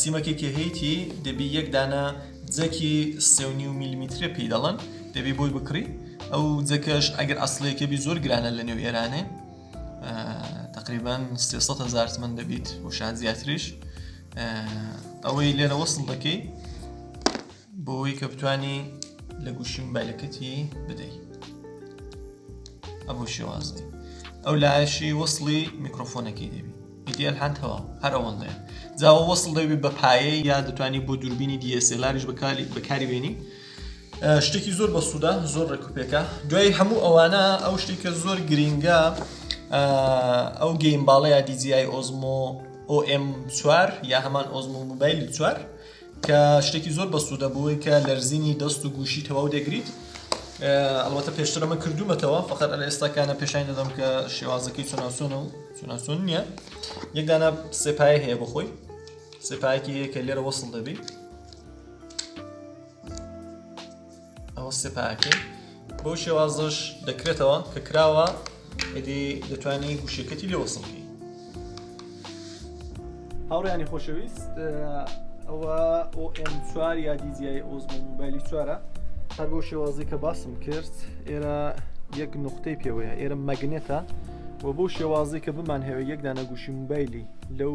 سیمەکێ کە هەیتی دەبی یەک دانە جەکی سێونی و میلیمیترێ پێی دەڵن دەبی بۆی بکڕی ئەو جەکەش ئەگەر ئەسلەکە بی زۆر گرانە لە نێو ئێرانێ تقریبان 300 هزار من دەبیت و شاد زیاتریش ئەوەی لێرە وەسڵ دەکەی بۆوەی کە بتانی لە گوشی مبایلەکەتی بدەی ئەبوو شێوازی ئەو لایەشی وەصلی میکرۆفۆنەکەی دەبی ئیدیال هەندەوە هەر ئەوەندەیە جاوە وەصل دەبی بە پایە یا دەتوانانی بۆ دووربینی دیسێلاریش بەکاری بەکاری بێنی شتێکی زۆر بە سوودا زۆر ڕێکوپێکە دوای هەموو ئەوانە ئەو شتێکە زۆر گرینگە ئەو گەیم باڵەیە دیجیای ئۆزمۆ ئۆM4 یا هەمان ئۆزمۆ موبایل چوار کە شتێکی زۆر بەسودە بۆی کە لەرزینی دەست و گوشی تەواو دەگریت ئەڵەتە پێشتر ئەمە کردومەتەوە فقط ئەلە ئێستاکانە پێشانی دەدەم کە شێوازەکەی چۆناسۆنە و چۆناسۆن نییە یەکدانە سێپای هەیە بخۆی سێپایەکی هەیە کە لێرە وەسڵ دەبی ئەوە سپاکەی بۆ شێوازش دەکرێتەوە کە کراوە ئەدی دەتوانانی گوشەکەتی لێ وەسڵکەی هاوڕیانی خۆشەویست ئەوە ئۆM چوار یا دیزیای ئۆزم موبایلی چوارە هەر بۆ شێوازی کە باسم کرد ئێرە یەک نقطەی پێوەیە ئێرە مەگنێتە و بۆ شێوازی کە بمان هەوێ یەکدانە گوشی موبایلی لەو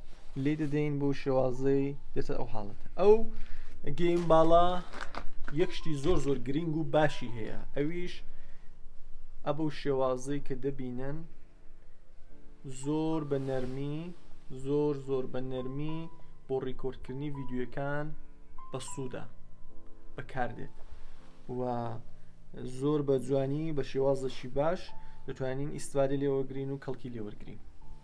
لی دەدەین بۆ شێوازەی دێتە ئەو حاڵەت ئەو گەیم باڵا یەک شتی زۆر زۆر گرنگ و باشی هەیە ئەویش ئەبوو شێوازەی کە دەبینن زۆر بە نەرمی زۆر زۆر بە نەرمی بۆ ڕیکۆردکردنی ڤیددیوەکان بە سوودا بەکاردێت و زۆر بە جوانی بە شێوازەشی باش دەتوانین ئیسفادە لێوەگرین و کەڵکی لێوەرگین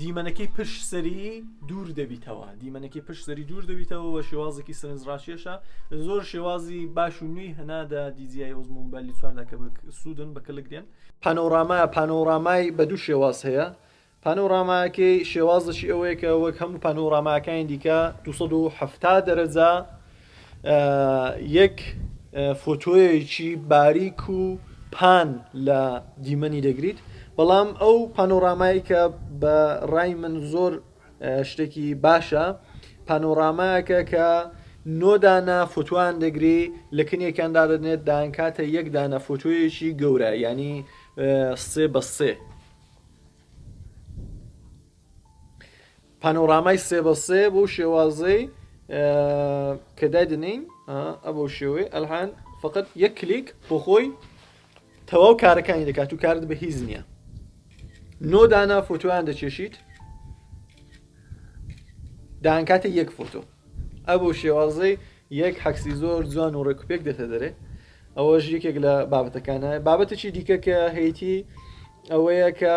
دیمەنەکەی پشت سەری دوور دەبیتەوە دیمەنەکەی پشت سەری دوور دەبیتەوە بە شێوازێکی سرنجڕاکێشە زۆر شێوازی باش و نوێی هەنادا دیزیای ئۆزمون بە لیچواردا کە سوودن بە کەلک دێن پانۆڕاما پانۆڕامای بە دوو شێواز هەیە پانۆڕاماکەی شێوازەشی ئەوەیە کە وەک هەموو پانۆڕاماکانی دیکە 270 دەرەجە یەک فۆتۆیەکی باریک و پان لە دیمەنی دەگریت بەڵام ئەو پانۆرامای کە بە ڕای من زۆر شتێکی باشە پانۆرامایەکە کە نۆدانە فوتوان دەگری لە کنێکیان دادنێت دانکاتە یەک دانە فوتویەکی گەورە ینی سێ بە سێ پانۆرامای سێ بە سێ بۆ شێوازەی کە دایدنین ئەبەو شێوەی ئەلحان فقط یەک کلیک بۆ خۆی تەواو کارەکانی دەکات و کارت بە هیز نییە نۆ دانا فۆتویان دەچێشیت دانکاتە یەک فۆتۆ ئەبۆ شێوازەی یەک حەکسی زۆر جوان و ڕێکوپێک دێتە دەرێ ئەوەش یەکێک لە بابەتەکانە بابەتەی دیکە کە هەیتی ئەوەیە کە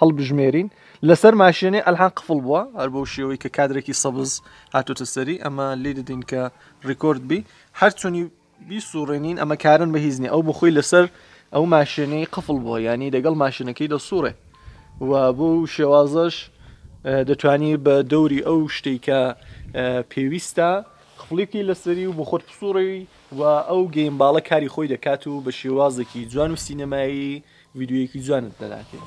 هەڵبژمێرین لەسەر ماشێنێ ئەلحان قفڵ بووە هەر بەو شێوەی کە کادرێکی سەبز هاتۆتە سەری ئەمە لی دەدین کە ڕیکۆرد بی هەرچۆنی بیسوڕێنین ئەمە کارن بە هیزنی ئەو بخۆی لەسەر ئەو ماشێنەی قفڵ بووە ینی دەگەڵ ماشینەکەی دەسوڕێ و بۆ شێوازەش دەتوانی بە دەوری ئەو شتێک کە پێویستە خفڵێکی لەسەری و بۆ خۆت پسوڕێوی و ئەو گەیم باڵە کاری خۆی دەکات و بە شێوازێکی جوان و سینەمایی ڤیدیۆیەکی جوانت لەلاکرد.